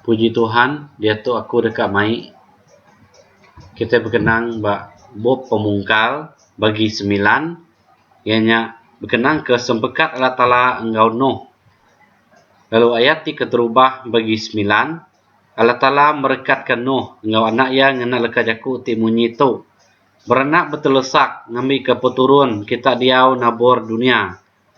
Puji Tuhan diatu aku deka mai kitai bekenang ba bup pemungkal bagi semilan iya nya bekenang ke sempekat Allah Taala enggau Noh. Lalu ayat ti keterubah bagi semilan Allah Taala merekatke Noh enggau anak iya ngena leka jaku ti munyi tu berenak betelesak ngambika peturun kita diau nabur dunya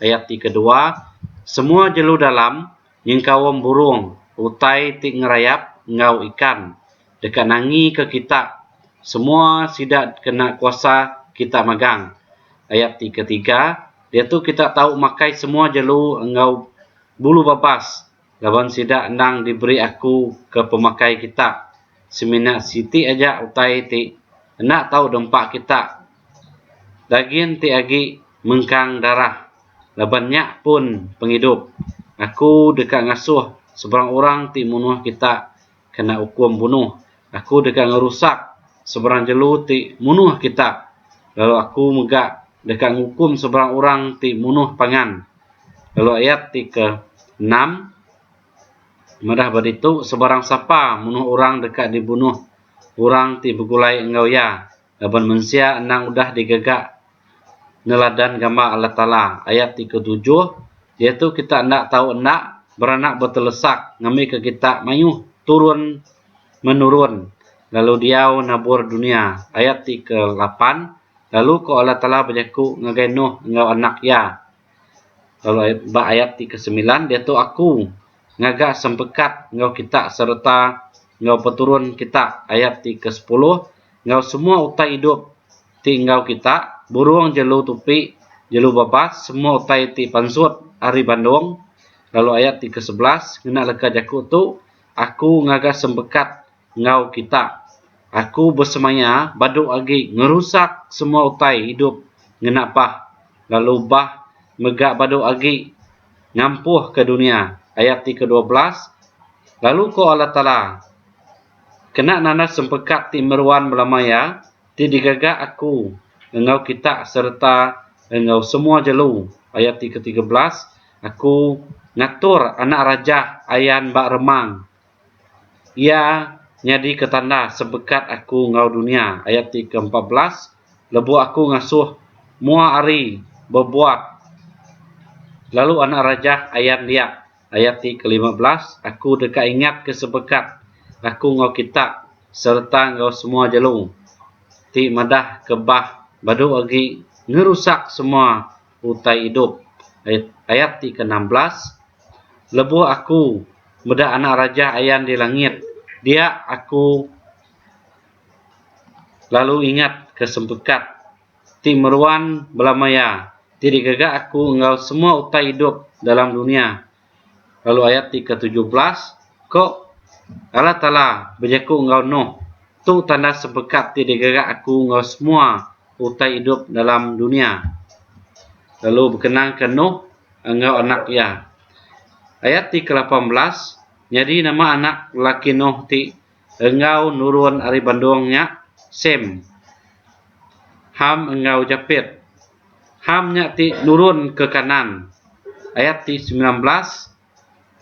Ayat ti kedua, Semua jelu dalam nyengkaum burung, utai ti ngerayap enggau ikan, deka nangika kita, semua sida kena kuasa kita magang. Ayat ti ketiga, Diatu kita tau makai semua jelu enggau bulu babas. laban sida endang diberi aku ke pemakai kita semina siti aja utai ti enda tau dempa kita dagin ti agi mengkang darah laban nya pun pengidup aku deka ngasuh sebarang orang ti munuh kita kena ukum bunuh. Aku deka ngerusak seberang jelu ti munuh kita, lalu Aku mega deka ngukum seberang orang ti munuh pangan. Lalu ayat ti ke enam madah ba ditu seberang sapa munuh orang deka dibunuh orang ti begulai enggau iya. Laban mensia endang udah digaga neladan gambar Allah Taala, ayat ti ketujuh, diatu kita enda tau enda beranak betelesak ngambika kita mayuh turun menurun lalu diau nabur dunia, ayat ti kelapan, lalu ko Allah Taala bejaku ngagai Nuh enggau anak iya. Lalu ba ayat ti ke semilan diatu aku ngaga sempekat enggau kita sereta enggau peturun kita ayat ti ke sepuluh enggau semua utai idup ti enggau kita burung jelu tupi jelu babas semua utai ti pansut ari bandong lalu ayat ti ke sebelas ngena leka jaku tu aku ngaga sempekat enggau kita. Aku besemaya badu agi ngerusak semua utai idup ngena bah lalu bah mega badu agi ngampuhka dunya, ayat ti ke-12, lalu ko Allah Taala, Kena nanas sempeka ti meruan belama iya ti digaga Aku enggau kita sereta enggau semua jelu, ayat ti ke-13, Aku ngatur anak rajah ayan ba remang, Iya nyadika tanda sebekat aku enggau dunya, ayat ti ke empat belas, lebu aku ngasuh mua ari bebuat lalu anak rajah ayan dia, ayat ti ke lima belas, aku deka ingatka sebekat aku enggau kita sereta enggau semua jelu ti madah ke bah badu agi ngerusak semua utai idup ayat ti ke enam belas lebuh aku meda anak raja ayan di langit dia aku lalu ingat ke sempekat ti meruan bela maya ti digaga aku enggau semua utai idup dalam dunia lalu ayat ti ke tujuh belas ko Allah taala bejaku enggau nuh tu tanda sebekat ti digerak aku enggau semua utai idup dalam dunia lalu bekenang ke nuh enggau anak iya ayat ti ke lapan belas nyadi nama anak laki nuh ti enggau nurun ari bandong nya sem ham enggau japet Ham nya ti nurun ke Kanaan. Ayat ti semilan belas,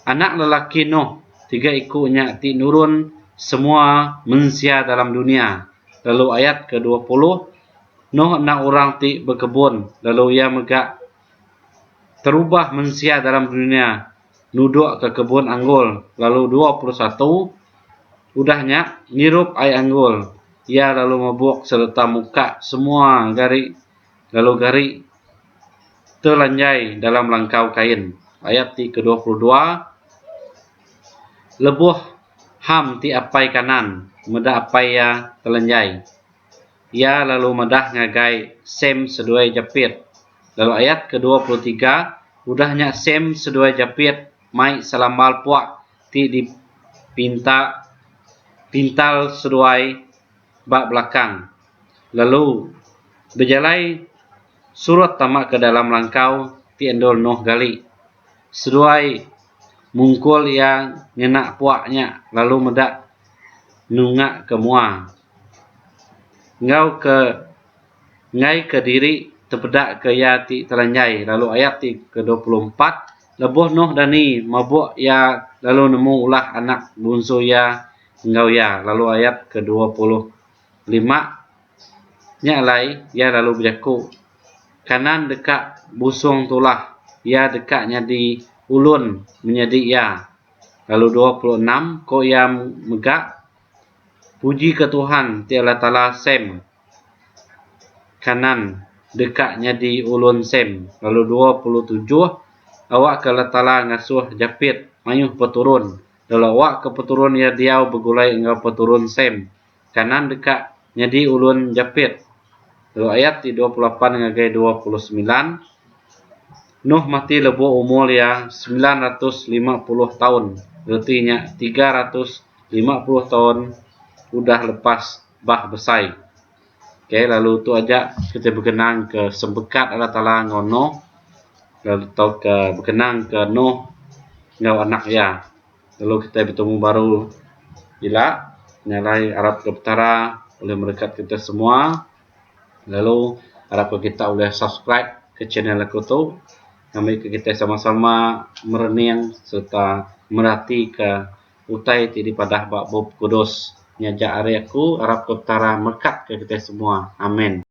Anak lelaki Noh, tiga iku nya ti nurun semua mensia dalam dunia. Lalu ayat ke dua puluh, Noh enda orang ti bekebun, lalu iya mega terubah mensia dalam dunia. nuduk ke kebun anggul lalu dua puluh satu udah nya ngirup ai anggul iya lalu mebuk sereta muka semua gari lalu gari telanjai dalam langkau kain ayat ti ke dua puluh dua lebuh Ham ti apai kanan meda apai iya telanjai Iya lalu madah ngagai Sam seduai Japit. Lalu ayat ke dua puluh tiga, udah nya Sam seduai Japit mai selambal puak ti dipinta pintal seduai ba belakang, lalu bejalai surut tama ke dalam langkau ti endur Noh gali. Seduai mungkul iya ngena puak nya lalu meda nunga ke mua. enggau ke ngai ke diri tepeda ke ia’ ti telanjai lalu ayat ti ke dua puluh empat lebuh Noh dani mabuk ia’ lalu nemu ulah anak bungsu ia’ enggau ia’ lalu ayat ke dua puluh lima nya alai ia’ lalu bejaku kanan deka busung tulah ia’ deka nyadi ulun menyadi ia’ lalu dua puluh enam ko ia’ mega Puji ka Tuhan ti Allah Taala Sem kanan deka nyadi ulun Sem lalu dua puluh tujuh awak ka Allah Taala ngasuh Japet mayuh peturun lalu awak ka peturun iya diau begulai enggau peturun Sem kanan deka nyadi ulun Japet Lalu ayat ti dua puluh lapan ngagai dua puluh semilan, Nuh mati lebuh umur iya semilan ratus lima puluh taun, reti nya tiga ratus lima puluh taun udah lepas Bah Besai. Okay, lalu tu aja kita berkenang ke sempekat Allah Taala enggau Nuh lalu tauka berkenang ke Nuh enggau anak iya. lalu kitai betemu baru ila nya alai arap ke petara ulih merekat kitai semua lalu arap ke kita ulih subscribe ke channel aku tu ngambi ke kitai sama-sama merening sereta merati ke utai ti dipadah ba Bup Kudus. Nyaja ari aku arap ke petara merekat ke kitai semua. Amen.